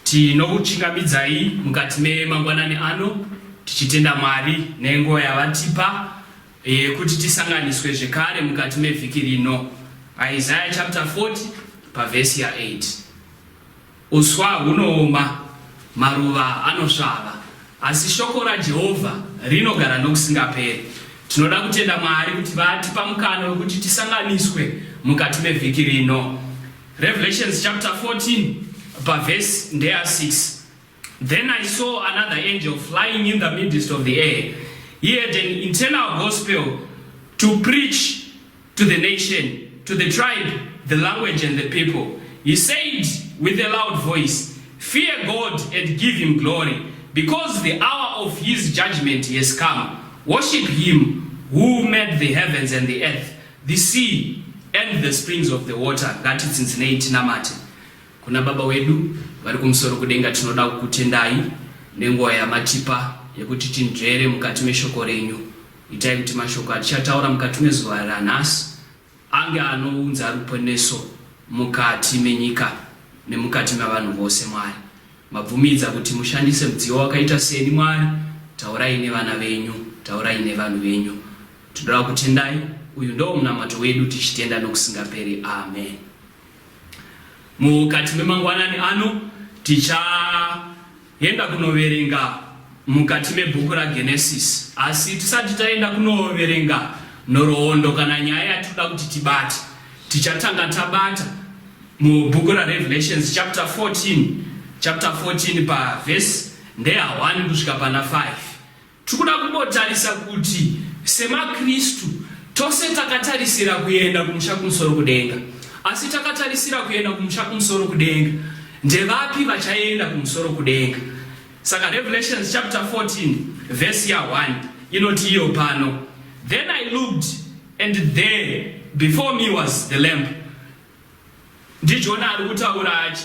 tinokuchingamidzai mukati memangwanani ano tichitenda mwari nenguva yavatipa yekuti eh, tisanganiswe zvekare mukati mevhiki rino isaya chapter 40 pavhesi ya8 Uswa hunooma, maruva anosvava, asi shoko raJehovha rinogara nokusingaperi. Tinoda kutenda Mwari kuti vatipa mukana wekuti tisanganiswe mukati mevhiki rino. Revelations chapter 14 pavhesi ndeya 6. Then I saw another angel flying in the midst of the air. He had an internal gospel to preach to the nation, to the tribe, the language and the people. He said with a loud voice, Fear God and give him glory, because the hour of his judgment has come. Worship him who made the heavens and the earth, the sea and the springs of the water. Ngatitsinzinei tinamate kuna Baba wedu vari kumusoro kudenga, tinoda kukutendai nenguva yamatipa yekuti tinzvere mukati meshoko renyu. Itai kuti mashoko atichataura mukati mezuva ranhasi ange anounza ruponeso mukati menyika nemukati mevanhu vose. Mwari, mabvumidza kuti mushandise mudziyo wakaita seni. Mwari, taurai nevana venyu, taurai nevanhu venyu. Tinoda kutendai. Uyu ndoo munamato wedu tichitenda nokusingaperi. Amen. Mukati memangwanani ano ticha Enda kunoverenga mukati mebhuku raGenesis. Asi tisati taenda kunoverenga nhoroondo kana nyaya yatinoda kuti tibate, tichatanga tabata mubhuku raRevelations chapter 14 chapter 14 pavhesi ndeya 1 kusvika pana 5. Tiri kuda kumbotarisa kuti semaKristu tose takatarisira kuenda kumusha kumusoro kudenga. Asi takatarisira kuenda kumusha kumusoro kudenga, ndevapi vachaenda kumusoro kudenga? Saka Revelations chapter 14 verse ya 1 inoti iyo pano, Then I looked and there before me was the lamb. NdiJona ari kutaura achi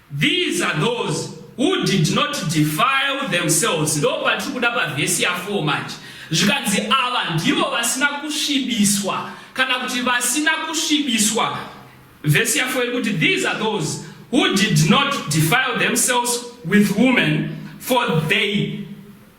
These are those who did not defile themselves ndo patiri kuda pavhesi ya 4 manje zvikanzi ava ndivo vasina kusvibiswa kana kuti vasina kusvibiswa vhesi ya 4 iri kuti these are those who did not defile themselves with women for they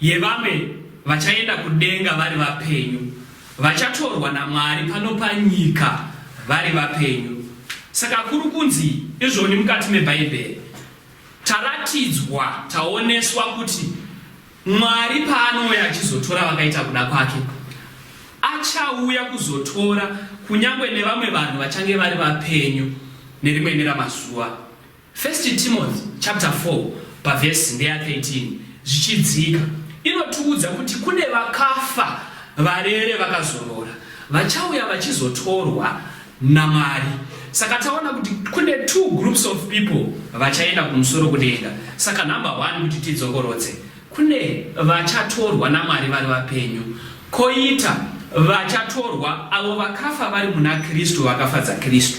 Yevamwe vachaenda kudenga vari vapenyu. Vachatorwa naMwari pano panyika vari vapenyu. Saka kuri kunzi izvoni mukati meBhaibheri. Taratidzwa, taoneswa kuti Mwari paanouya achizotora vakaita kuda kwake, achauya kuzotora kunyangwe nevamwe vanhu vachange vari vapenyu nerimwe neramazuva. First Timothy chapter 4 pavhesi ndeya 13 zvichidzika inotiudza kuti kune vakafa varere vakazorora vachauya vachizotorwa naMwari. Saka taona kuti kune two groups of people vachaenda kumusoro kudenga. Saka number one kuti tidzokorodze, kune vachatorwa naMwari vari vapenyu, koita vachatorwa avo vakafa vari muna Kristu, vakafadza Kristu.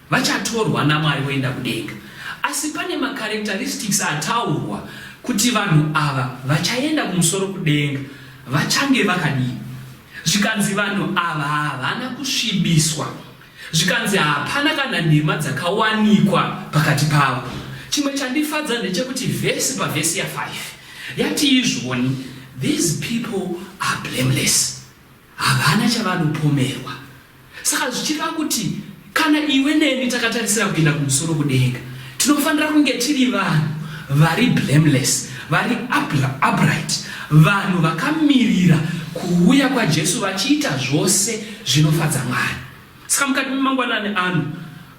Vachatorwa naMwari voenda kudenga. Asi pane macharacteristics ataurwa kuti vanhu ava vachaenda kumusoro kudenga vachange vakadii. Zvikanzi vanhu ava havana kusvibiswa. Zvikanzi hapana kana nhema dzakawanikwa pakati pavo. Chimwe chandifadza ndechekuti vhesi pavhesi ya5 yati izvoni these people are blameless. Havana chavanopomerwa. Saka zvichireva kuti kana iwe neni takatarisira kuenda kumusoro kudenga, tinofanira kunge tiri vanhu vari blameless, vari upright, vanhu vakamirira kuuya kwaJesu vachiita zvose zvinofadza Mwari. Saka mukati memangwanani ano,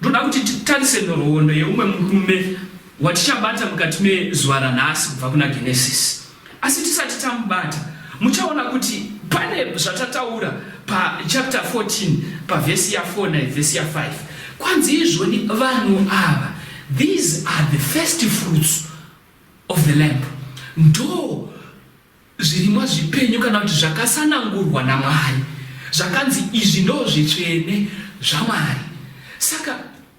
ndoda kuti titarise nhoroondo yeumwe murume watichabata mukati mezuva ranhasi kubva kuna Genesis. Asi tisati tamubata, muchaona kuti pane zvatataura pachapter 14 pavhesi ya4 nevhesi ya5 kwanzi izvoni vanhu ava these are the first fruits of the lamp ndo zvirimwa zvipenyu kana kuti zvakasanangurwa namwari zvakanzi izvi ndo zvitsvene zvamwari saka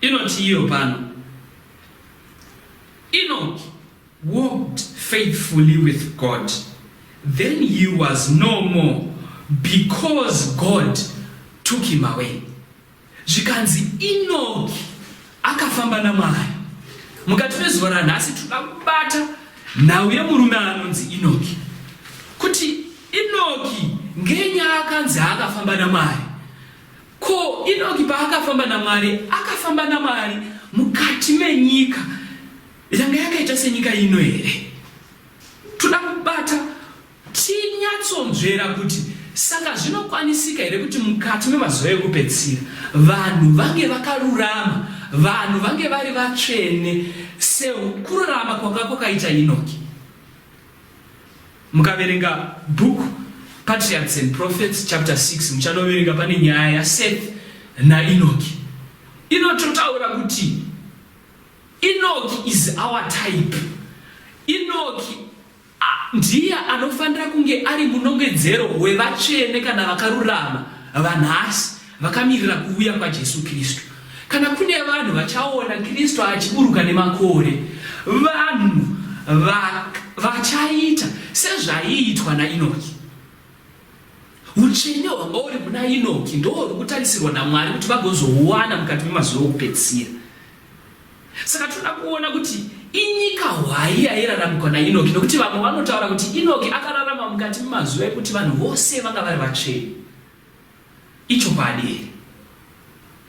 Inoti iyo pano, Enoch walked faithfully with God, then he was no more because God took him away. Zvikanzi Enoch akafamba naMwari. Mukati mezuva ranhasi tinoda kubata nhau yemurume anonzi Enoch. Kuti Enoch ngenyaa akanzi akafamba naMwari. Ko Inoki paakafamba naMwari akafamba naMwari mukati menyika yanga yakaita senyika ino here? Toda kubata tinyatsonzvera kuti saka zvinokwanisika here kuti mukati memazuva ekupedzisira vanhu vange vakarurama, vanhu vange vari vatsvene sekururama kwanga kwakaita Inoki? mukaverenga book patriarchs and prophets chapter 6 muchanoverenga pane nyaya yaseth nainoki inototaura kuti inoki is our type inoki ndiye anofanira kunge ari munongedzero wevatsvene kana vakarurama vanhasi Vakamirira kuuya kwaJesu Kristu. Kana kune vanhu vachaona Kristu achiburuka nemakore, vanhu va, vachaita sezvaiitwa naInoki. Utsvene hwanga uri muna Inoki ndoo uri kutarisirwa naMwari kuti vagozouwana mukati memazuva okupedzisira. Saka tinoda kuona kuti inyika hwai yairaramikwa naInoki, nokuti vamwe vanotaura kuti Inoki akararama mukati memazuva ekuti vanhu vose vanga vari vatsvene. Ichokwadi here?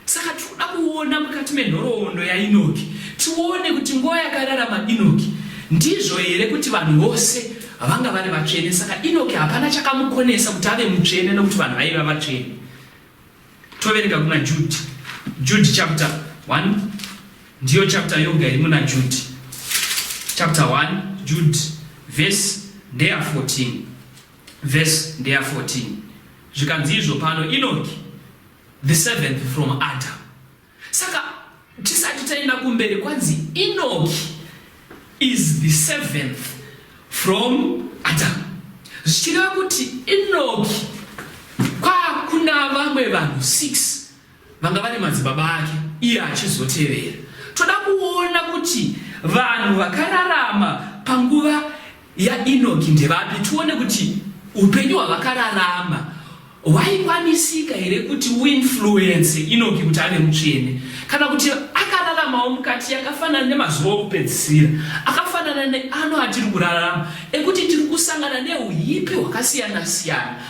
Saka tiri kuda kuona mukati menhoroondo yaEnoki tione kuti nguva yakararama Enoki ndizvo here kuti vanhu vose vanga vari vatsvene. Saka Enoki hapana chakamukonesa kuti ave mutsvene nokuti vanhu vaiva vatsvene. Toverenga kuna Judhi. Judhi chapter 1 ndiyo chapter yoga iri muna Judhi chapter 1 Judhi verse ndeya 14. Vhesi ndeya 14. Zvikanzizvo, pano Inoki, the seventh from Adam. Saka tisati taenda kumberi kwanzi Inoki is the seventh from Adam. Zvichireva kuti Inoki kwakuna vamwe vanhu 6 vanga vari madzibaba ake iye achizotevera. Toda kuona kuti vanhu vakararama panguva yaEnoki ndevapi, tione kuti upenyu hwavakararama hwaikwanisika here kuti uinfluence Enoki kuti ave mutsvene, kana kuti akararamawo mukati yakafanana nemazuva okupedzisira akafanana neano atiri kurarama ekuti tiri kusangana neuhipi hwakasiyana siyana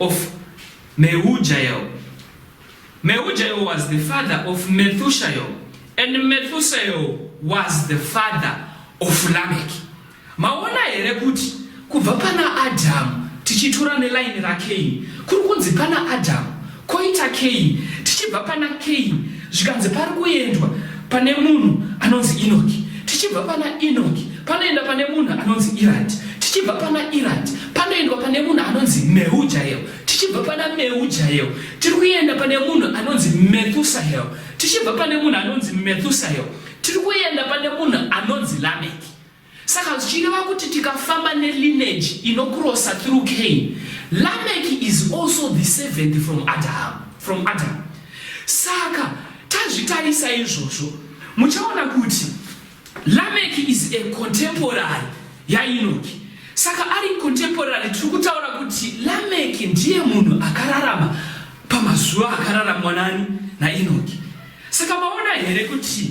of Mehujael. Mehujael was the father of Methushael and Methushael was the father of Lamek. Maona here kuti kubva pana Adamu tichitura nelaini raKain kuri kunzi pana Adamu koita Kain tichibva pana Kain zvikanzi pari kuendwa pane munhu anonzi inoki tichibva pana inoki panoenda pane munhu anonzi irati tichibva pana irati panoendwa pane munhu anonzi meujael tichibva pana meujael tiri kuenda pane munhu anonzi methusael tichibva pane munhu anonzi methusael tiri kuenda pane munhu anonzi lameki Saka zvichireva kuti tikafamba nelineage inokurosa through Cain, Lameki is also the seventh from Adam, from Adam. Saka tazvitarisa izvozvo muchaona kuti Lameki is a contemporary yaInoki. Saka ari contemporary tiri kutaura kuti Lameki ndiye munhu akararama pamazuva akararamwa nani naInoki. Saka maona here kuti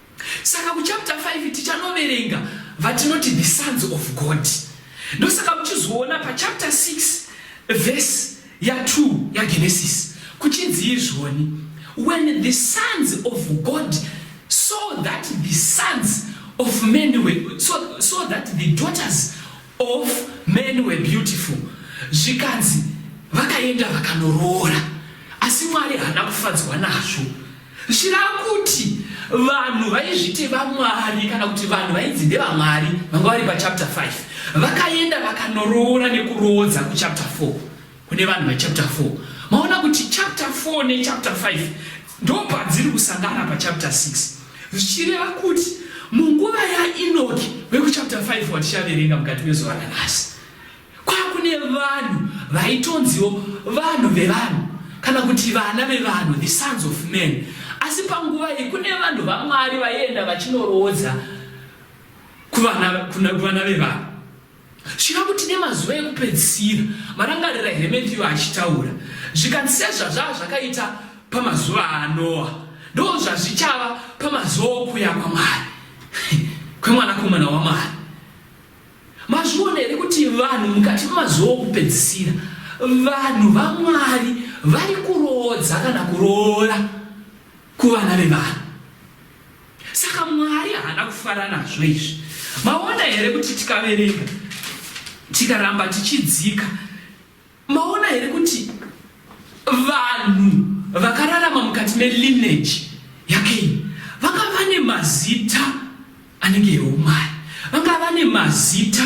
Saka kuchapter 5 tichanoverenga vatinoti the sons of God. Ndosaka muchizoona pachapter 6 verse ya2 yaGenesis kuchinzi izvoni when the sons of God saw that the sons of men were, so, so that the daughters of men were beautiful zvikanzi vakaenda vakanoroora asi mwari haana kufadzwa nazvo zvirava kuti vanhu vaizviti vamwari kana kuti vanhu vainzi ndevamwari vanga vari pachapter 5 vakaenda vakanoroora nekuroodza kuchapter 4 kune vanhu vechapter 4 maona kuti chapter 4 nechapter 5 ndopadziri kusangana pachapter 6 zvichireva kuti munguva yainoki vekuchapter 5 watichaverenga mukati mezuva ranhasi kwakune vanhu vaitonziwo vanhu vevanhu kana kuti vana vevanhu the sons of men asi panguva iyi kune vanhu vamwari vaienda vachinoroodza kuvana vevanhu Zvino kuti nemazuva ekupedzisira, marangarira Hemefiyo achitaura, zvikanzi sezvazvava zvakaita pamazuva aNoa, ndoo zvazvichava pamazuva okuya kwaMwari, kweMwanakomana waMwari. Mazviona here kuti vanhu mukati memazuva okupedzisira, vanhu vaMwari vari kuroodza kana kuroora kuvana vevanhu. Saka Mwari haana kufara nazvo izvi. Maona here kuti tikaverenga tikaramba tichidzika, maona here kuti vanhu vakararama mukati melineage yaKaini vanga vane mazita anenge eumwari, vanga vane mazita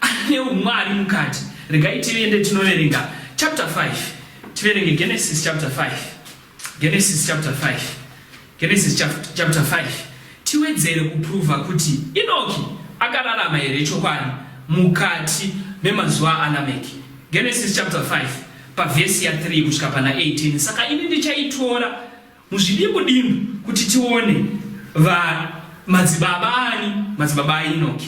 ane umwari mukati. Regai tiende tinoverenga chapter 5, tiverenge Genesis chapter 5. Genesis chapter 5. Genesis chapter 5. Tiwedzere kuprova kuti Inoki akararama here chokwadi mukati memazuva alameki Genesis chapter 5 pavhesi ya 3 kusvika pana 18. Saka ini ndichaitora muzvidimbu dimbu kuti tione va madzibaba ani madzibaba aInoki.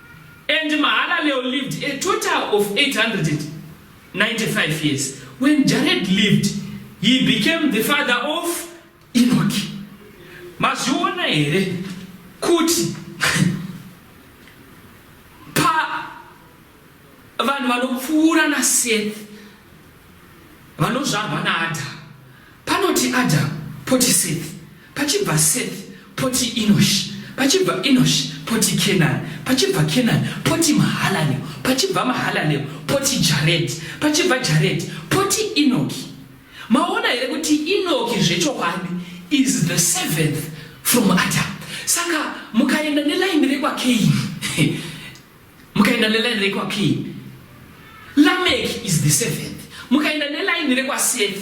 And Mahalalel lived a total of 895 years. When Jared lived, he became the father of Enoch. Mazviona here kuti pa vanhu vanopfuura naSeth vanozvarwa naAdam Panoti Adam, poti Seth, pachibva Seth, poti Enosh, pachibva Enosh, poti Kenan, pachibva Kenan, poti Mahalalel, pachibva Mahalalel, poti Jared, pachibva Jared, poti Enoki. Maona here kuti Enoki zvechokwadi is the seventh from Adam. Saka mukaenda nelaini rekwaKeini mukaenda neline rekwakin lamek is the seventh mukaenda neline rekwaseth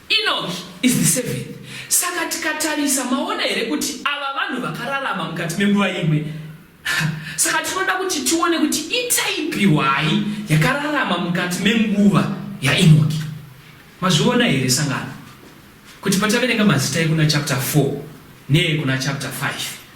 enoch is the seventh saka tikatarisa maona here kuti ava vanhu vakararama mukati menguva imwe saka tinoda kuti tione kuti itaipi hwai yakararama mukati menguva yaenoki mazviona here sangano kuti pataverenga mazita ekuna chapter 4 neekuna chapter 5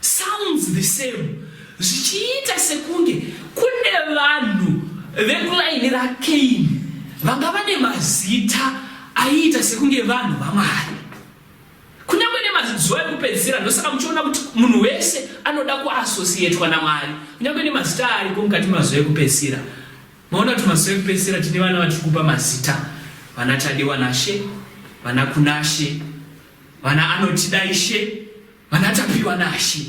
Sounds the same zvichiita sekunge kune vanhu vekulaini raKaini vanga vane mazita aiita sekunge vanhu vaMwari kunyange nemazuva ekupedzisira ndosaka muchiona kuti munhu wese anoda kuasosiyetwa naMwari kunyange nemazita ariko mukati mazuva ekupedzisira maona kuti mazuva ekupedzisira tine vana vatiri kupa mazita vana Tadiwa naShe vana Kunashe vana Anotidaishe Vana Tapiwa Nashe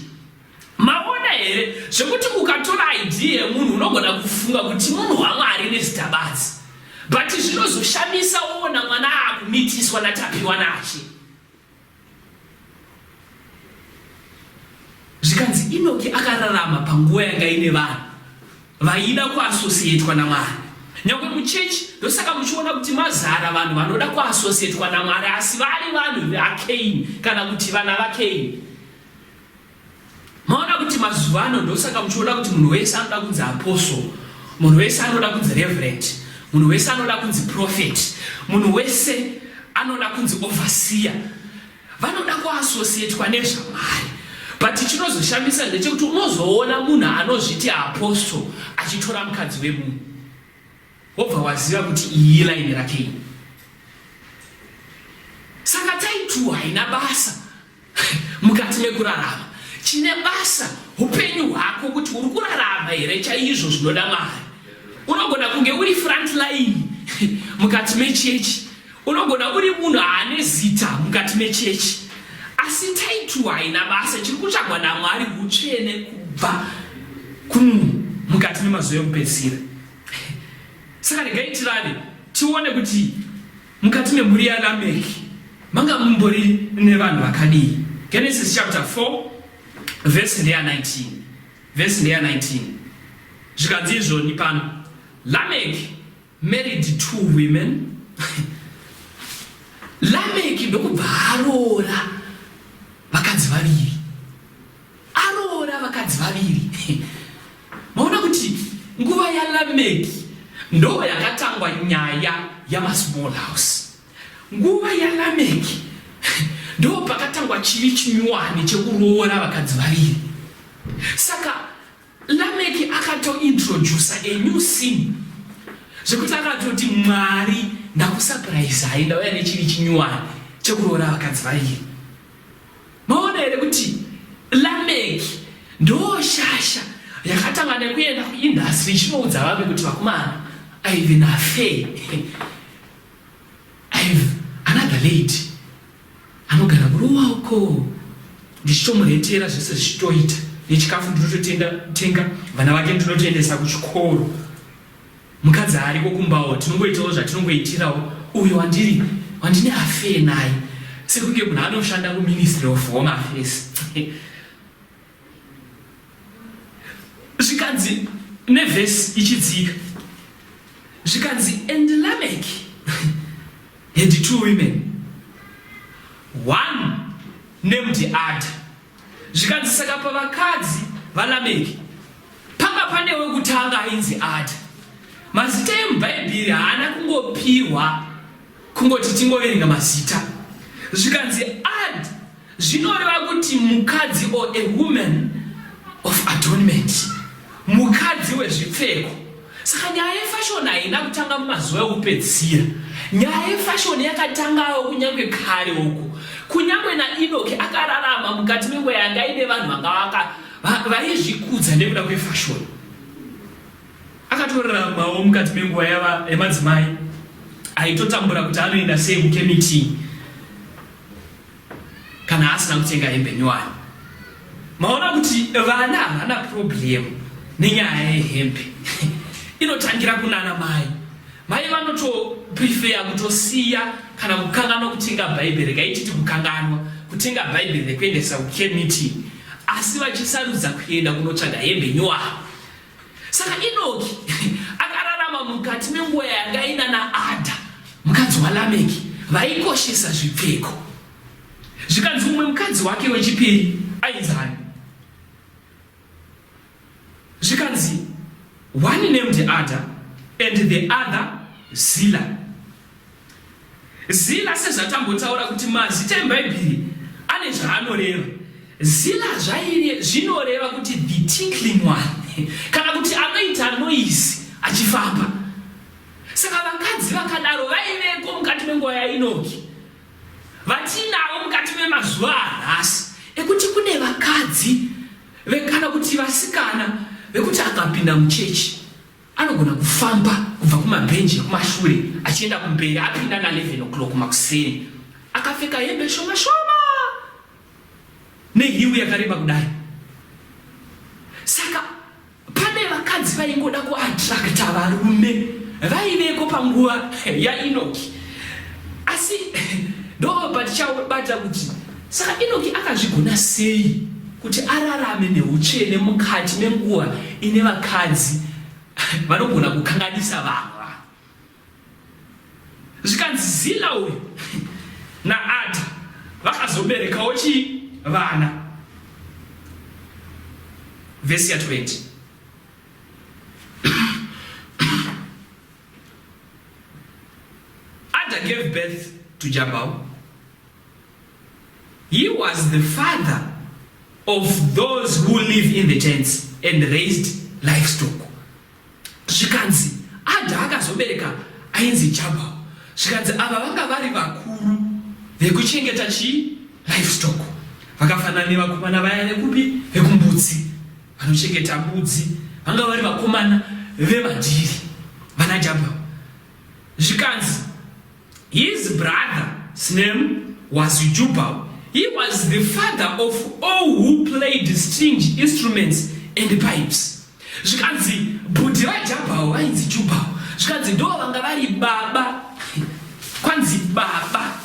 maona here zvekuti ukatora id yemunhu unogona kufunga kuti munhu wamwari nezita badzi but zvinozoshamisa woona mwana akumitiswa natapiwa nache zvikanzi inoki akararama panguva yanga ine vanhu Vaida kuasosiyetwa naMwari. Nyangwe muchechi ndosaka muchiona kuti mazara vanhu vanoda kuasosiyetwa naMwari asi vari vanhu vaKaini kana kuti vana vaKaini. Maona kuti mazuva ano ndosaka muchiona kuti munhu wese anoda kunzi apostle, munhu wese anoda kunzi reverend, munhu wese anoda kunzi prophet, munhu wese anoda kunzi overseer. vanoda kuasosiyetwa nezvamwari but chinozoshamisa ndechekuti unozoona munhu anozviti apostle achitora mukadzi wemunhu wobva waziva kuti iyi laini rake iyi saka taituwa haina basa mukati mekurarama chine basa upenyu hwako kuti uri kurarama here chaizvo zvinoda mari unogona kunge uri front line mukati mechechi Unogona uri munhu ane zita mukati mechechi, asi taitu haina basa. Chiri kutsvagwa naMwari utsvene kubva kumunhu mukati memazuva ekupedzisira. Saka regai tirave tione kuti mukati memhuri yaLameki manga mumbori nevanhu vakadii. Genesis chapter 4 verse ndeya 19 verse ndeya 19 zvikanzi izvoni pano Lameki married two women lameki ndokubva aroora vakadzi vaviri aroora vakadzi vaviri maona kuti nguva yalameki ndo yakatangwa nyaya yamasmall house nguva yalameki ndo pakatangwa chivi chinyuwani chekuroora vakadzi vaviri saka Lameck akato introducer a new scene zvekuti akatoti mwari ndakusapuraiza hai ndauya nechiri chinyuwani chekuroora vakadzi vaviri maona here kuti lameck ndoo shasha yakatanga nekuenda kuindastry ichinoudza vamwe kuti vakomana ive nafe ive another lady Anogara kuruwa uko ndichitomuretera zvese zvichitoita nechikafu ndinototenga tenga vana vake ndinotoendesa kuchikoro mukadzi ariko kumbawo tinongoitawo zvatinongoitirawo uyo wandiri wandine afee naye sekunge munhu anoshanda kuministry of home affairs zvikanzi nevhesi ichidzika zvikanzi and lamek had two women one named ada zvikanzi saka pavakadzi valameki panga pane wekutanga ainzi ada mazita emubhaibheri haana kungopihwa kungoti tingoverenga mazita zvikanzi ad Zvinoreva kuti mukadzi or a woman of adornment, mukadzi wezvipfeko. Saka nyaya yefashoni haina kutanga mumazuva ekupedzisira. Nyaya yefashoni yakatangawo kunyange kare uku, kunyange naInoki akararama mukati menguva yanga ine vanhu vanga vaizvikudza nekuda kwefashoni. Akatoraramawo mukati menguva yemadzimai aitotambura kuti anoenda sei mukemitii kana asina kutenga hembe nyowani maona kuti vana havana problem nenyaya yehembe inotangira kunana mai mai vanotoprefeya kutosiya kana kukanganwa kutenga bhaibheri kaititi kukanganwa kutenga bhaibheri rekuendesa kucare meeting asi vachisarudza kuenda kunotsvaga hembe nyowani Saka Inoki akararama mukati menguva yanga ina naAdha mukadzi waLameki vaikoshesa zvipfeko. Zvikanzi mumwe mukadzi wake wechipiri ainzi ani? Zvikanzi one named Adha and the other Zila. Zila sezvatambotaura kuti mazita eBhaibheri ane zvaanoreva. Zila zvaire zvinoreva kuti the tinkling one kana kuti anoita noise achifamba. Saka vakadzi vakadaro vaiveko mukati menguva yaInoki vatinavo mukati memazuva anhasi ekuti kune vakadzi vekana kuti vasikana vekuti akapinda muchechi Anogona kufamba kubva kumabhenji ekumashure achienda kumberi apinda na 11 o'clock makuseni akapfeka hembe shoma shoma nehiwi yakareba kudai. Saka pane vakadzi vaingoda kuattracta varume vaiveko panguva yaInoki asi ndobva tichaubata kuti Saka Enoki akazvigona sei kuti ararame neutsvene mukati menguva ine vakadzi vanogona kukanganisa vamwe vanhu? Zvikanzi Zila uyu naAdha vakazoberekawo chii? Vana. Vhesi ya 20. Ada gave birth to Jabal. He was the father of those who live in the tents and raised livestock. Zvikanzi Adha akazobereka ainzi Jabal. Zvikanzi ava vanga vari vakuru vekuchengeta chi livestock. Vakafanana nevakomana vaya vekupi vekumbudzi vanochengeta mbudzi vanga vari vakomana vevadhiri vana Jabal. Zvikanzi His brother's name was Jubal. He was the father of all who played string instruments and pipes. Zvikanzi bhudhi vaJabhao vainzi Jubal. Zvikanzi ndo vanga vari baba. Kwanzi baba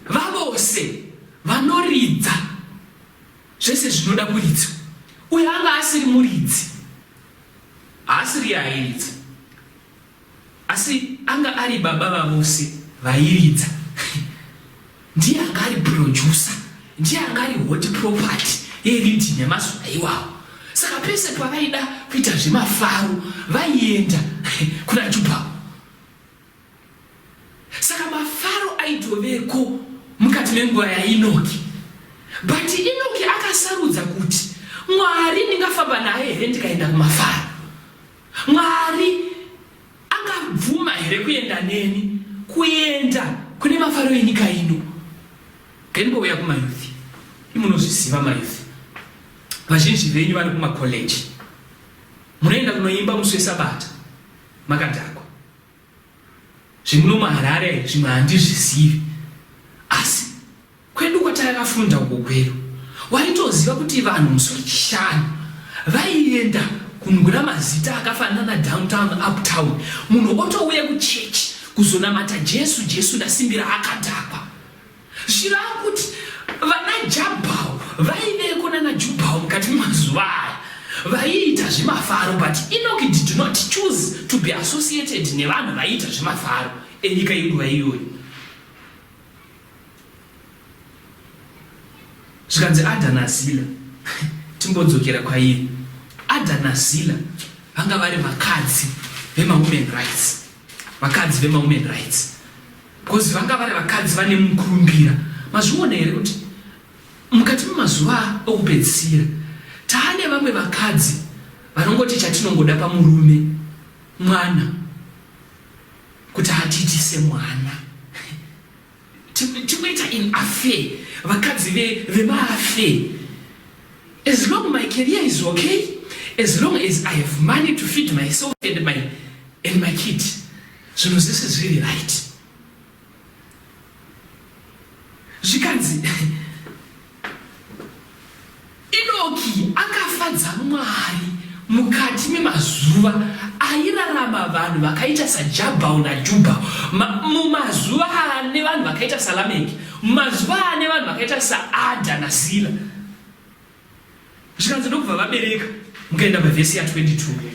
vavose vanoridza zvese zvinoda kuridzwa. Uyo anga asiri muridzi. Haasiri yairidza. Asi anga ari baba vavose vairidza ndiye anga ari producer ndiye anga ari hot property yeriddim yemazuva iwawo saka pese pavaida kuita zvemafaro vaienda kuna juba saka mafaro aitoveko mukati menguva yainoki but inoki akasarudza kuti mwari ndingafamba naye here ndikaenda kumafaro Mwari angabvuma here kuenda neni kuenda kune mafaro enyika ino? Ngaimbouya kumayuthi, imunozviziva mayuthi vazhinji venyu vane kumakoleji, munoenda kunoimba musi wesabata makadhakwa. Zvimuno muharare zvimwe handizvizivi. Kwedu kwatakafunda uko kwedu waitoziva kuti vanhu musi wechishanu vaienda kunogura mazita akafanana na downtown uptown munhu otouya kuchechi kuzonamata jesu jesu ndasimbira akadhakwa zvirava kuti vana jabhau vaiveko nana jubhau mukati memazuva aya vaiita zvemafaro but enoki did not choose to be associated nevanhu vaiita zvemafaro enyika yenguva iyoyo zvikanzi adha nazila timbodzokera kwairi adha nazila vanga vari vakadzi vemawomen rights vakadzi vemawomen rights bcause vanga vari vakadzi vane mukurumbira mazviona here kuti mukati memazuva okupedzisira taane vamwe vakadzi vanongoti chatinongoda pamurume mwana Kuti atiitise mwana. Tikuita in affair. Vakadzi ve vema affair. As long my career is okay, as long as I have money to feed myself and my and my kid. Zvinhu zvese zviri right. Zvikanzi Inoki akafadza Mwari mukati memazuva airarama vanhu vakaita saJabhau naJubhau, mumazuva ane vanhu vakaita saLameki, mumazuva ane vanhu vakaita saAdha naZila. Zvikanzi ndokubva vabereka, mukaenda pavhesi ya 22.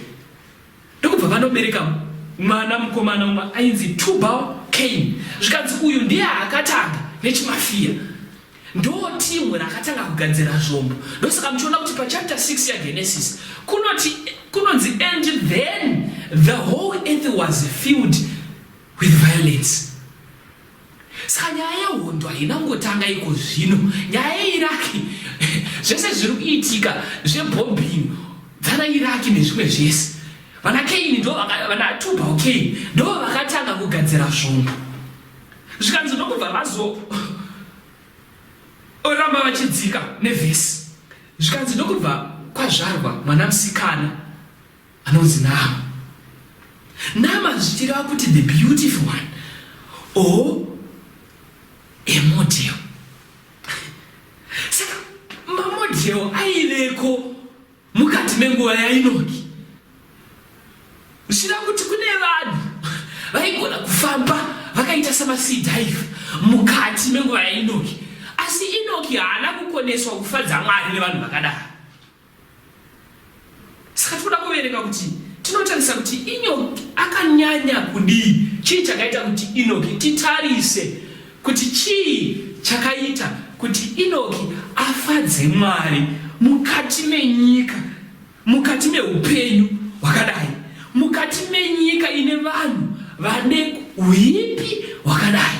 ndokubva vanobereka mwana mukomana umwe ainzi tubal kain zvikanzi uyu ndiye akatanga nechimafiya ndoo timu rakatanga kugadzira zvombo ndosaka muchiona kuti pachapter 6 yagenesis kunoti kunonzi and then the whole earth was filled with violence Saka nyaya yehondo haina kungotanga iko zvino. Nyaya yeIraki, zvese zviri kuitika zvebombing dzana Iraki nezvimwe zvese. Vana Kaini ndo vana Tubal Kaini ndo vakatanga kugadzira zvombo. Zvikanzi ndokubva vazo oramba vachidzika nevhesi. Zvikanzi ndokubva kwazvarwa mwana musikana. Anonzi Nama. Nama zvichireva kuti the beautiful one or a model. Saka mamodel aiveko mukati menguva yainoki zvichireva kuti kune vanhu vaigona kufamba vakaita samaseed dive mukati menguva yainoki asi inoki haana kukoneswa kufadza mwari nevanhu vakadaro Saka tinoda kuverenga kuti tinotarisa kuti Inoki akanyanya kudii, chii chakaita kuti Inoki, titarise kuti chii chakaita kuti Inoki afadze Mwari mukati menyika, mukati meupenyu hwakadai, mukati menyika ine vanhu vane huipi hwakadai.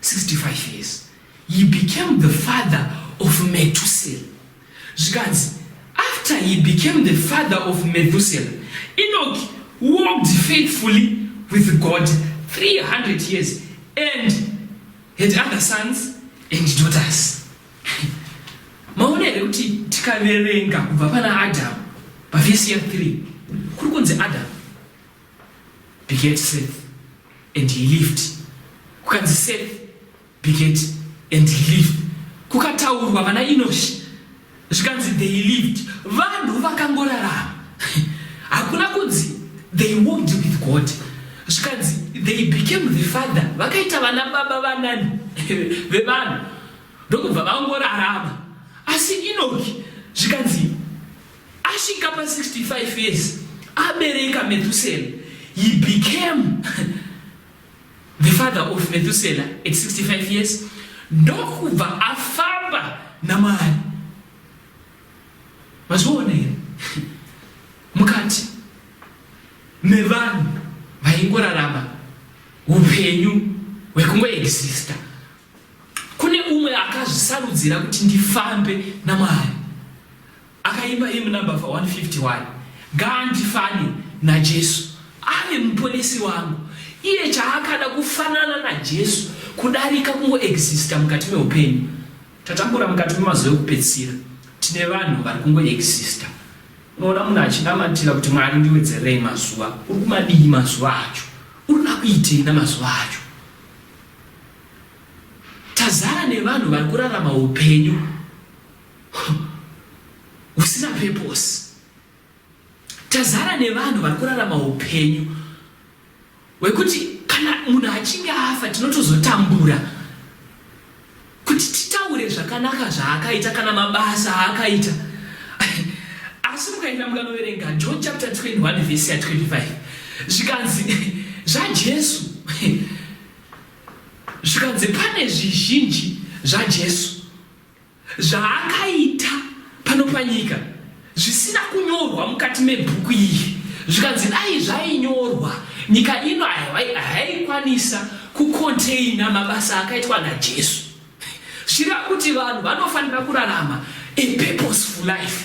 65 years he became the father of metusel zvikanzi after he became the father of methusel enoch walked faithfully with god 300 years and had other sons and daughters maona here kuti tikaverenga kubva pana adamu pavhesi ya 3 kuri kunzi adamu Bigate Seth and he lived kukanzi Seth Bigate and he lived kukataurwa vana Inoshi zvikanzi they lived vanhu vakangorarama hakuna kunzi they walked with God zvikanzi they became the father vakaita vana baba vanani vevanhu ndokubva vangorarama asi Inoki zvikanzi Asvika pa 65 years abereka Methuselah he became the father of Methuselah at 65 years ndokubva afamba namari mazviona here mukati mevanhu vaingorarama upenyu hwekungoexista kune umwe akazvisarudzira kuti ndifambe namwari Akaimba hymn number 151 ngaandifane naJesu ave muponesi wangu. Iye chaakada kufanana naJesu kudarika kungoexista mukati meupenyu. Tatambura mukati memazuva ekupedzisira, tine vanhu vari kungoexista. Unoona munhu achinamatira kuti Mwari ndiwedzerei mazuva, uri kumadii mazuva acho? Uri nakuitei namazuva acho? Tazara nevanhu vari kurarama upenyu husina purpose. Tazara nevanhu vari kurarama upenyu hwekuti kana munhu achinge afa tinotozotambura kuti titaure zvakanaka zvaakaita kana mabasa aakaita asi mukaenda mukanoverenga john chapter 21 vhesi ya 25 zvikanzi zvajesu zvikanzi pane zvizhinji zvajesu zvaakaita pano panyika zvisina kunyorwa mukati mebhuku iri zvikanzi dai zvainyorwa nyika ino haikwanisa kukonteina mabasa akaitwa najesu zvira kuti vanhu vanofanira kurarama a purposeful life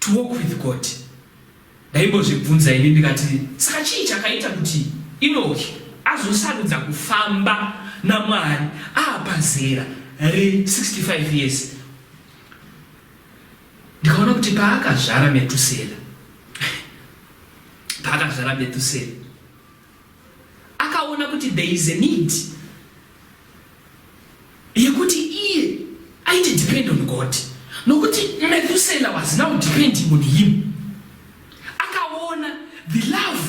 To walk with God ndaimbozvibvunza ini ndikati saka chii chakaita kuti Inoki azosarudza kufamba naMwari aapa zera re 65 years ndikaona kuti paakazvara Metusera paakazvara Metusera akaona kuti there is a need yekuti iye aite depend on god nokuti methusela was now depending on him akaona the love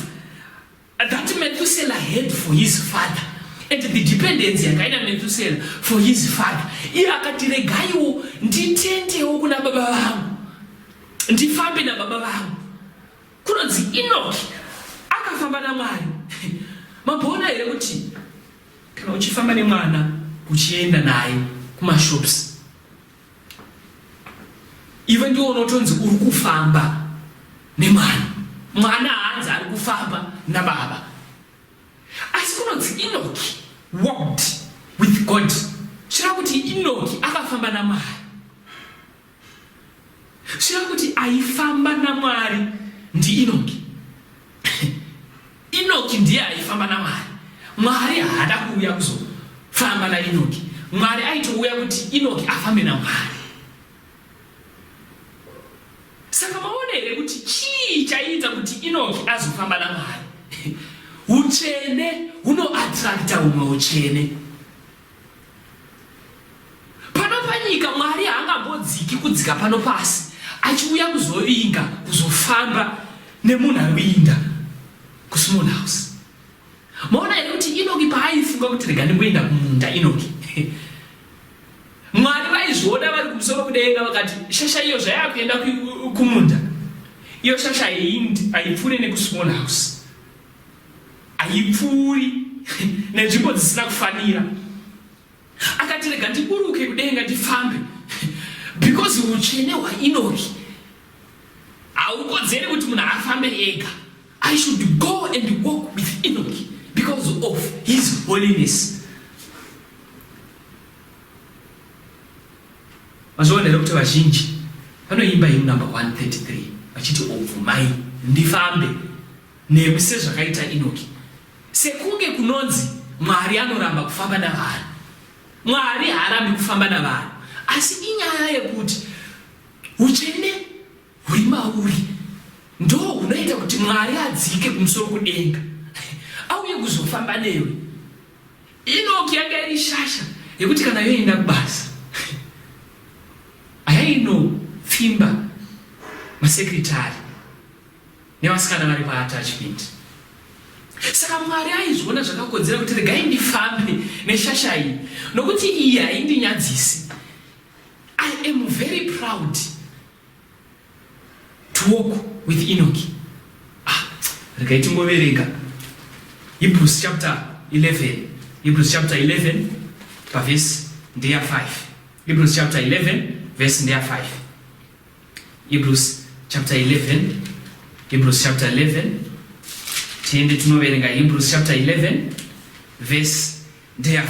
that methusela had for his father and the dependency yakaina methusela for his father iye akati regaiwo nditendewo kuna baba vangu ndifambe nababa vangu Kunonzi Inoki akafamba naMwari. Mamboona here kuti kana uchifamba nemwana uchienda naye kumashops ive ndiwo unotonzi uri kufamba nemwana mwana hanzi ari kufamba nababa asi kunonzi inoki walked with god chireva kuti inoki akafamba namwari Sure kuti aifamba naMwari ndiInoki. Inoki ndiye aifamba naMwari. Mwari haada kuuya kuzofamba naInoki. Mwari aitouya kuti Inoki afambe naMwari. Saka maona here kuti chii chaiita kuti Inoki azofamba naMwari? Utsvene hunoatrakta humwe utsvene. Pano panyika Mwari haangambodziki kudzika pano pasi achiuya kuzovinga kuzofamba nemunhu ari kuinda kusmall house. Maona here kuti Inoki paaifunga kuti rega ndimboinda kumunda Inoki Mwari vaizviona vari kumusoro kudenga vakati shasha iyo zvayakuenda kumunda iyo shasha aipfuure nekusmall house haipfuuri nenzvimbo dzisina kufanira akati rega ndiburuke kudenga ndifambe because utsvene hwainoki haukodzeri kuti munhu afambe ega i should go and walk with enoki because of his holiness mazviona here kuti vazhinji vanoimba him number 133 vachiti obvumai ndifambe newe sezvakaita Inoki. Sekunge kunonzi Mwari anoramba kufamba navanhu. Mwari haarambi kufamba navanhu. Asi inyaya yekuti utsvene huri mauri ndo hunoita kuti Mwari adzike kumusoro kudenga auye kuzofamba newe. Inoki yanga iri shasha yekuti kana yoenda kubasa ayainopfimba masekretari nevasikana vari paattachment saka mwari aizviona zvakakodzera kuti regai ndifambe neshasha iyi nokuti iyi haindinyadzisi i am very proud to walk with enoki ah, regai tingoverenga hebrews chapter 11 hebrews chapter 11 pavhesi ndeya 5 hebrews chapter 11 vhesi ndeya 5 Hebrews chapter 11 Hebrews chapter 11 tiende tinoverenga Hebrews chapter 11 verse ndeya 5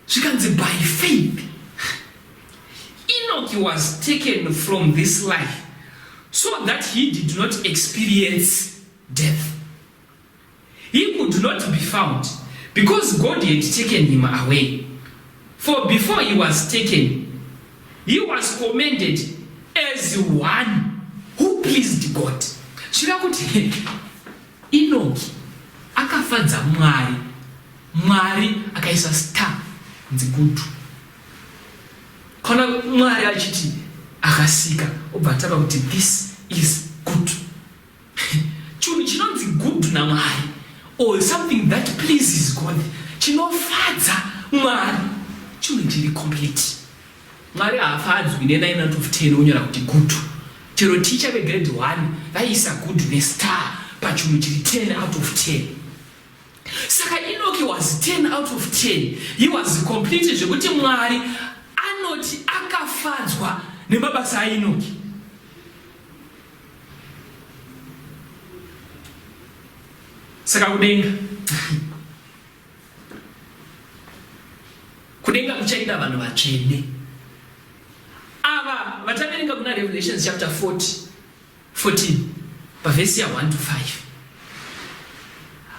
zvikanzi by faith Enoch was taken from this life so that he did not experience death He could not be found because God had taken him away. For before he was taken, he was commended as one who pleased God. Chira kuti Enoki akafadza Mwari. Mwari akaisa star nzigudu. Kana Mwari achiti akasika obva atava kuti this is good. Chinhu chinonzi good naMwari or something that pleases God chinofadza Mwari chinhu chiri complete. Mwari haafadzwi ne 9 out of 10 onyora kuti good. Chero teacher ve grade 1 vaisa good ne star pachinhu chiri 10 out of 10. Saka Enoch was 10 out of 10. He was complete zvekuti Mwari anoti akafadzwa nemabasa aEnoch. saka kudenga kudenga kuchaenda vanhu vatsvene ava vataverenga kuna revelations chapter 40 14 pavhesi ya 1 to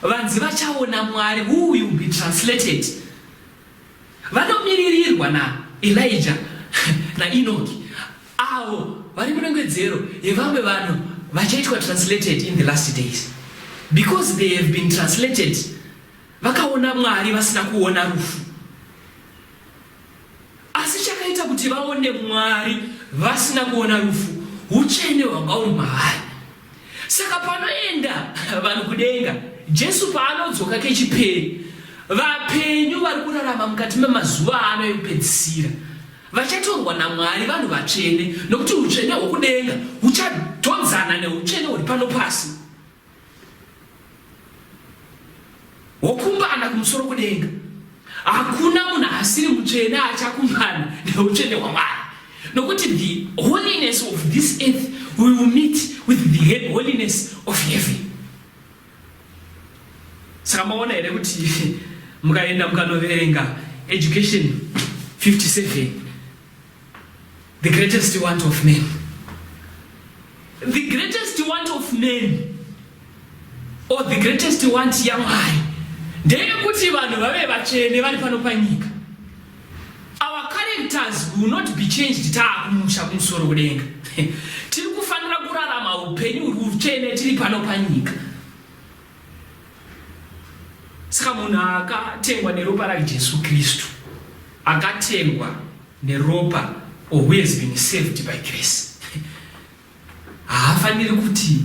5 vanzi vachaona mwari who will be translated vanomiririrwa na elija nainoki Avo vari munongedzero yevamwe vanhu vachaitwa translated in the last days because they have been translated vakaona Mwari vasina kuona rufu. Asi chakaita kuti vaone Mwari vasina kuona rufu utsvene hwanga uri maari. Saka panoenda vanhu kudenga, Jesu paanodzoka kechipiri, vapenyu vari kurarama mukati memazuva ano ekupedzisira. Vachatorwa naMwari vanhu vatsvene, nokuti utsvene hwokudenga huchatodzana neutsvene huri pano pasi, hwokumbana kumusoro kudenga. Hakuna munhu asiri mutsvene achakumbana neutsvene hwaMwari, nokuti the holiness of this earth will meet with the holiness of heaven. saka maona here kuti mukaenda mukanoverenga education 57 the greatest want of men the greatest want of men or the greatest want yamwari ndeyekuti vanhu vave vatsvene vari pano panyika our characters will not be changed taakumusha kumusoro kudenga tiri kufanira kurarama upenyu uri utsvene tiri pano panyika saka munhu akatengwa neropa rajesu kristu akatengwa neropa or who has been saved by grace haafaniri kuti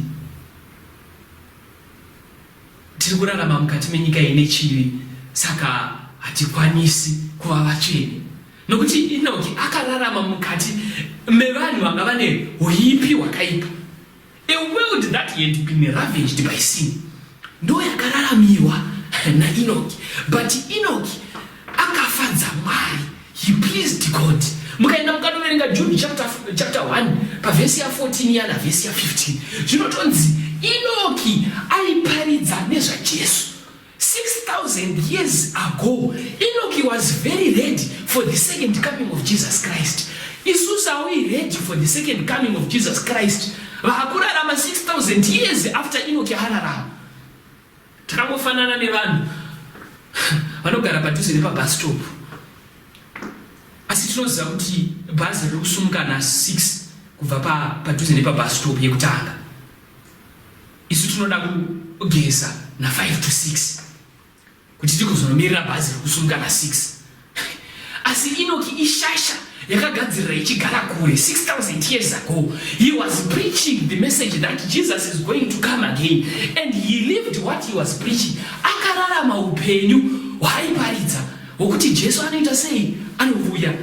Tiri kurarama mukati menyika ine chivi, saka hatikwanisi kuva vatsvene. Nokuti Inoki akararama mukati mevanhu vanga vane huipi hwakaipa. A world that had been ravaged by sin. Ndo yakararamiwa naInoki. But Inoki akafadza mwari he pleased god mukaenda mukanoverenga jude chapter, chapter 1 pavhesi ya14 yana vhesi ya15 zvinotonzi inoki aiparidza nezvajesu 6000 years ago inoki was very ready for the second coming of jesus christ isusu aui ready for the second coming of jesus christ vakurarama 6000 years after inoki ararama Takangofanana nevanhu vanogara padhuze nepabus stop asi tinoziva kuti bhazi riri kusumuka na 6 kubva padhuze nepabus stop yekutanga isu tinoda kugeza na 5 to 6 kuti tigozonomirira bhazi riri kusumuka na 6 Asi Inoki ishasha yakagadzirira ichigara kure 6000 years ago he was preaching the message that Jesus is going to come again and he lived what he was preaching akararama upenyu hwaiparidza hwokuti Jesu anoita sei anovuya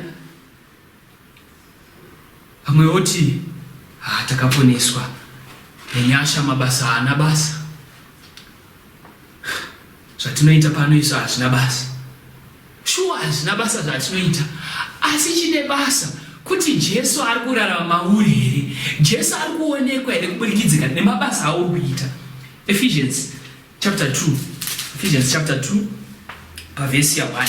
Vamwe voti, Haa takaponeswa nenyasha mabasa haana basa. Zvatinoita pano isu hazvina basa. Shuwa hazvina basa zvatinoita asi chine basa kuti Jesu ari kurarama mauri here? Jesu ari kuonekwa here kuburikidzika nemabasa auri kuita? Ephesians chapter 2. Ephesians chapter 2 pavhesi ya 1.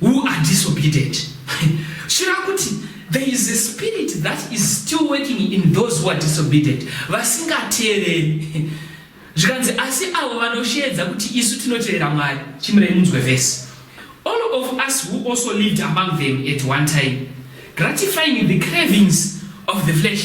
who are disobedient shira kuti there is a spirit that is still working in those who are disobedient vasingateereri zvikanzi asi avo vanosheedza kuti isu tinoteerera mwari chimirei munzwe vhesi all of us who also lived among them at one time gratifying the cravings of the flesh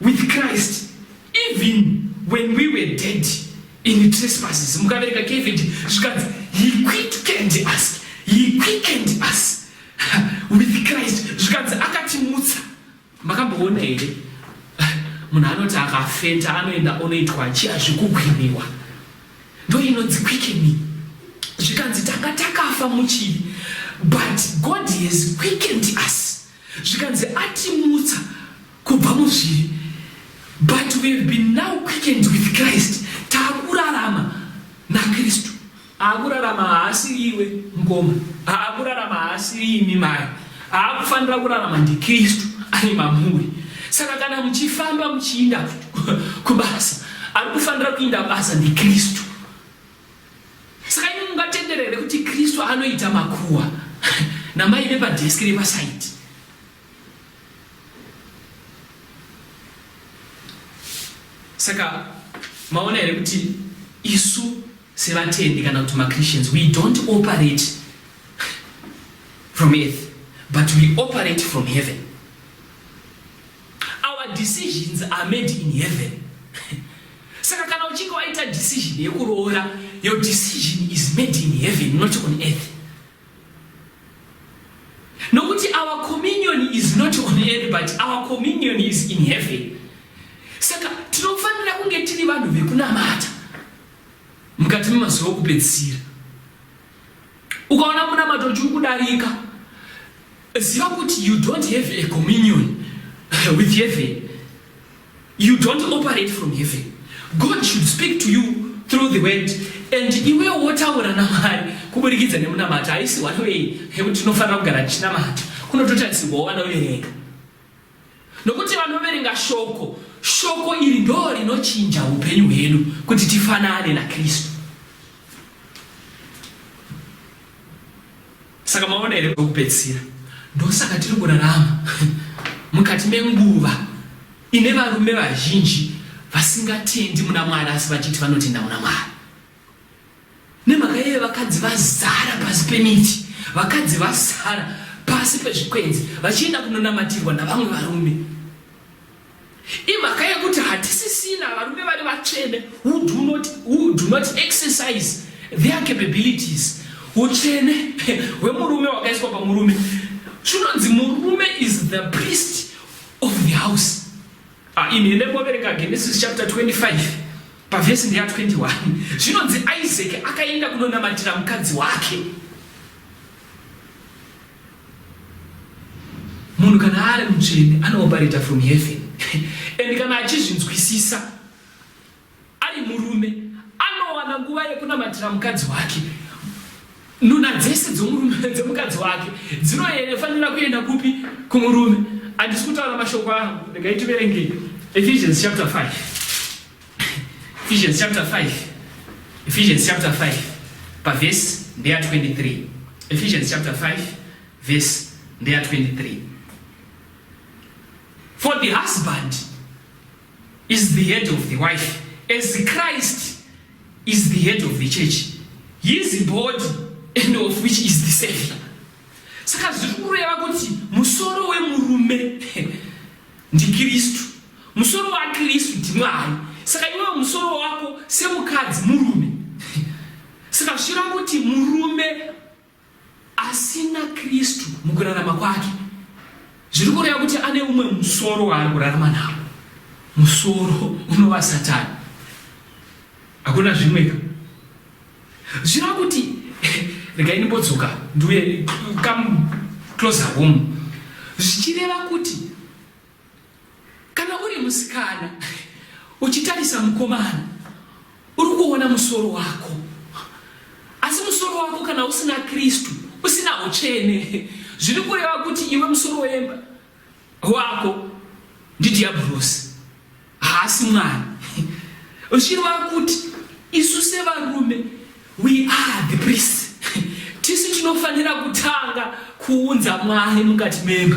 with Christ even when we were dead in trespasses mukavereka kevd zvikanzi he quickened us he quickened us with christ zvikanzi akatimutsa makamboona here munhu anoti akafenta anoenda onoitwa chiya zvekugwiniwa ndo inonzi quickening zvikanzi tanga takafa muchivi but god has quickened us Zvikanzi atimutsa kubva muzvivi but we have been now quickened with Christ takurarama naKristu. Akurarama haasiri iwe mkoma, akurarama haasiri imi mai, akufanira kurarama ndiKristu ari mamuri. Saka kana muchifamba muchiinda kubasa, ari kufanira kuinda basa ndiKristu. Saka imi mungatendera here kuti Kristu anoita makuwa namai vepadheski repasaidi? Saka maona here kuti isu sevatendi kana kuti machristians we don't operate from earth but we operate from heaven Our decisions are made in heaven. Saka kana uchinge waita decision yekuroora, your decision is made in heaven, not on earth. Nokuti our communion is not on earth, but our communion is in heaven. Saka tinofanira kunge tiri vanhu vekunamata mukati memazuva okupedzisira. ukaona munamato uchiri kudarika ziva kuti you don't have a communion with heaven you don't operate from heaven god should speak to you through the word and iwe wotaura namwari kuburikidza nemunamato haisi one way yekuti tinofanira kugara tichinamata kunototarisirwa wana uye rega Nokuti vanoverenga shoko, shoko iri ndoo rinochinja upenyu hwedu kuti tifanane naKristu. Saka maona here kwekupedzisira? Ndosaka tiri kurarama mukati menguva ine varume vazhinji vasingatendi muna Mwari asi vachiti vanotenda muna Mwari. Nemhaka iyoyo vakadzi vazara pasi pemiti, vakadzi vazara pasi pezvikwenzi vachienda kunonamatirwa navamwe varume. Imhaka yekuti hatisisina varume vari vatsvene who do not, who do not exercise their capabilities. Utsvene hwemurume wakaiswa pamurume. Chinonzi murume is the priest of the house. Ah, in the mobereka Genesis chapter 25 pavhesi ndeya 21 zvinonzi isaac akaenda kunonamatira mukadzi wake munhu kana ari mutsvene anooperator from heaven and kana achizvinzwisisa Ari murume anowana nguva yekunamatira mukadzi wake. Nuna dzese dzomurume dzemukadzi wake dzinofanira kuenda kupi? Kumurume. Handisi kutaura mashoko angu, regai tiverenge Ephesians chapter 5. Ephesians chapter 5. Ephesians chapter 5 pavhesi ndeya 23. Ephesians chapter 5 vhesi ndeya 23. For the husband is the head of the wife as Christ is the head of the church his body and of which is the savior saka zviri kureva kuti musoro wemurume ndikristu musoro wakristu ndimwari saka iwewo musoro wako semukadzi murume saka zvichireva kuti murume Asina Kristu mukurarama kwake zviri kureva kuti ane umwe musoro waari kurarama nawo. Musoro unova Satani. Hakuna zvimweka. Zvira kuti regai ndimbodzoka ndiuye come closer home zvichireva kuti Kana uri musikana uchitarisa mukomana uri kuona musoro wako asi musoro wako kana usina kristu usina utsvene zviri kureva kuti iwe musoro wemba wako ndidhiabhurosi haasi mwari uchireva kuti isu sevarume we are the priest tisu tinofanira kutanga kuunza mwari mukati memba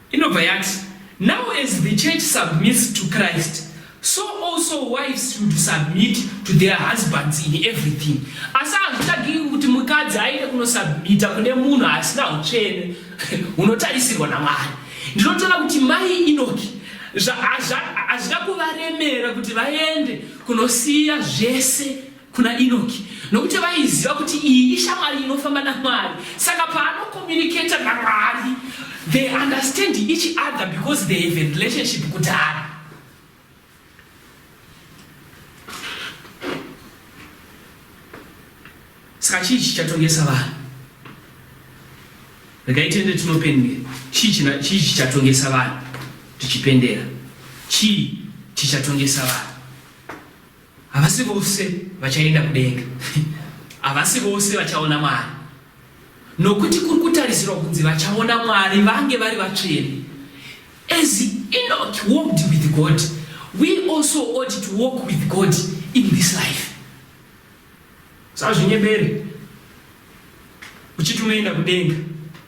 Inobva yati, Now as the church submits to Christ, so also wives should submit to their husbands in everything. Asi hazvitagiki kuti mukadzi aende kunosubmita kune munhu asina utsvene hunotarisirwa naMwari. Ndinotoona kuti mai Inoki hazvina kuvaremera kuti vaende kunosiya zvese kuna Inoki nokuti vaiziva kuti iyi ishamwari inofamba naMwari saka paanocommunicata naMwari they understand each other because they have a relationship kudhara saka chii chichatongesa vanhu regai tiende tinopendera chii chichatongesa vanhu tichipendera chii chichatongesa vanhu Havasi vose vachaenda kudenga. Havasi vose vachaona Mwari. Nokuti kuri kutarisirwa kunzi vachaona Mwari vange vari vatsvene. As Enoch walked with God, we also ought to walk with God in this life. Sazvinyebere. Uchiti unoenda kudenga.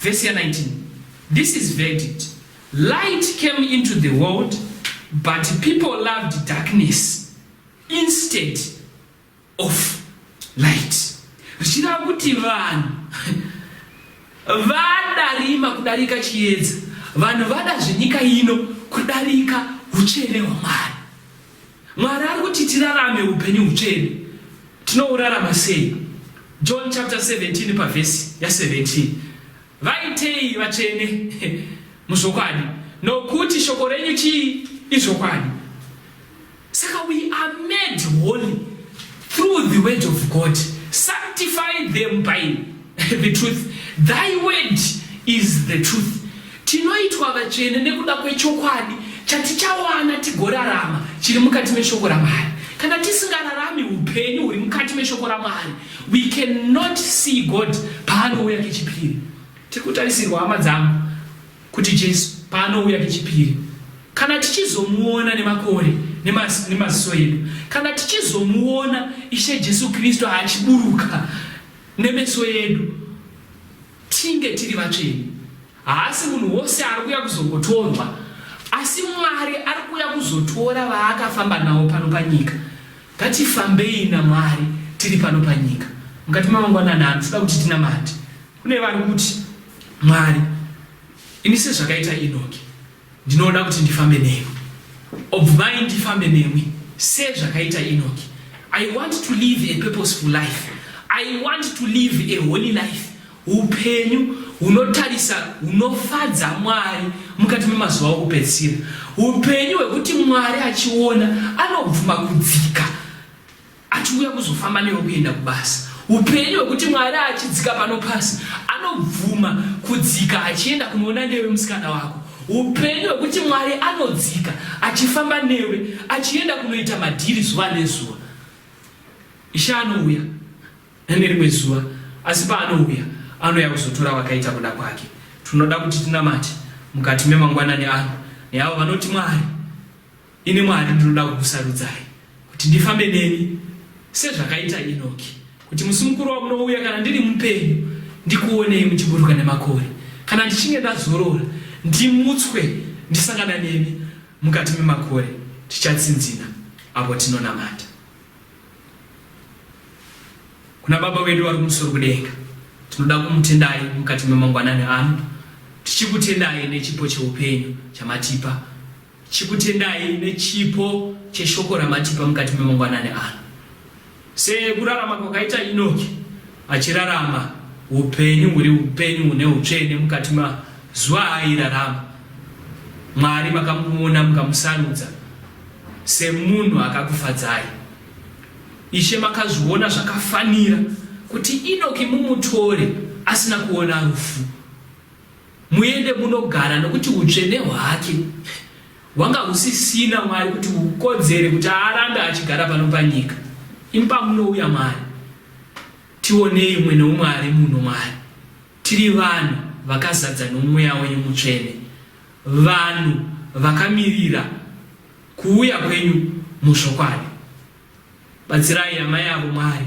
Vhesi ya 19 This is verdict, Light came into the world but people loved darkness instead of light. Zvichireva kuti vanhu vada rima kudarika chiedza, vanhu vada zvenyika ino kudarika utsvene hwaMwari. Mwari ari kuti tirarame upenyu hutsvene. Tinourarama sei? John chapter 17 pavhesi ya 17. Vaitei vatsvene muzvokwadi, nokuti shoko renyu chii? Izvokwadi. Saka we are made holy through the word of God. Sanctify them by the truth thy word is the truth tinoitwa vatsvene nekuda kwechokwadi chatichawana tigorarama chiri mukati meshoko ramwari kana tisingararami upenyu huri mukati meshoko ramwari we cannot see god paanouya kechipiri tiri kutarisirwa hama dzangu kuti jesu paanouya kechipiri kana tichizomuona nemakore nemaziso edu kana tichizomuona ishe jesu kristu achiburuka Nemeso edu tinge tiri vatsvene. Haasi munhu wose ari kuya kuzongotorwa, asi Mwari ari kuya kuzotora vaakafamba navo pano panyika. Ngatifambei naMwari tiri pano panyika. Mukati mamangwanani ano tinoda kuti tinamate. Kune vari kuti, Mwari, ini sezvakaita Enoki. Ndinoda kuti ndifambe nemi. Obvumai ndifambe nemwi se zvakaita Enoki. I want to live a purposeful life. I want to live a holy life. Upenyu hunotarisa hunofadza Mwari mukati memazuva okupedzisira. Upenyu hwekuti Mwari achiona anobvuma kudzika achiuya kuzofamba newe kuenda kubasa upenyu hwekuti mwari achidzika pano pasi anobvuma kudzika achienda kunoona newe musikana wako upenyu hwekuti mwari anodzika achifamba newe achienda kunoita madhiri zuva nezuva ishe anouya nerimwe zuva asi paanouya anouya kuzotora vakaita kuda kwake tinoda kuti tinamate mukati memangwanani ano neavo vanoti mwari Ini Mwari ndinoda kukusarudzai kuti ndifambe nemi sezvakaita Inoki, kuti musi mukuru wamunouya kana ndiri mupenyu ndikuonei muchiburuka nemakore, kana ndichinge ndazorora ndimutswe ndisangana nemi mukati memakore, tichatsinzina apo tinonamata kuna Baba wedu vari kumusoro kudenga. Tinoda kumutendai mukati memangwanani ano, tichikutendai nechipo cheupenyu chamatipa Chikutendai nechipo cheshoko ramatipa mukati memangwanani ano. Sekurarama kwakaita Inoki achirarama upenyu huri upenyu hune utsvene mukati mazuva aairarama, Mwari makamuona mukamusarudza semunhu akakufadzai. Ishe makazviona zvakafanira kuti Inoki mumutore asina kuona rufu. Muende munogara nokuti utsvene hwake hwanga husisina Mwari kuti hukodzere kuti arambe achigara pano panyika. Imi pamunouya Mwari tionei umwe noumwe ari muno Mwari tiri vanhu vakazadza noMweya wenyu mutsvene vanhu vakamirira kuuya kwenyu muzvokwadi. Batsirai amai avo Mwari.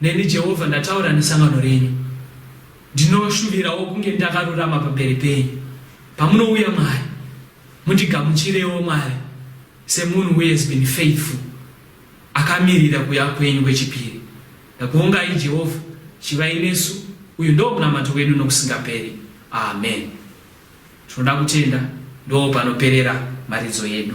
Neni Jehovha ndataura nesangano renyu, ndinoshuvirawo kunge ndakarurama pamberi penyu. Pamunouya Mwari, mundigamuchirewo Mwari semunhu who has been faithful, akamirira kuya kwenyu kwechipiri. Ndakuongai Jehovha, chivai nesu, uyu ndoo munamato wedu nokusingaperi. Amen. Tinoda kutenda ndoo panoperera mharidzo yedu.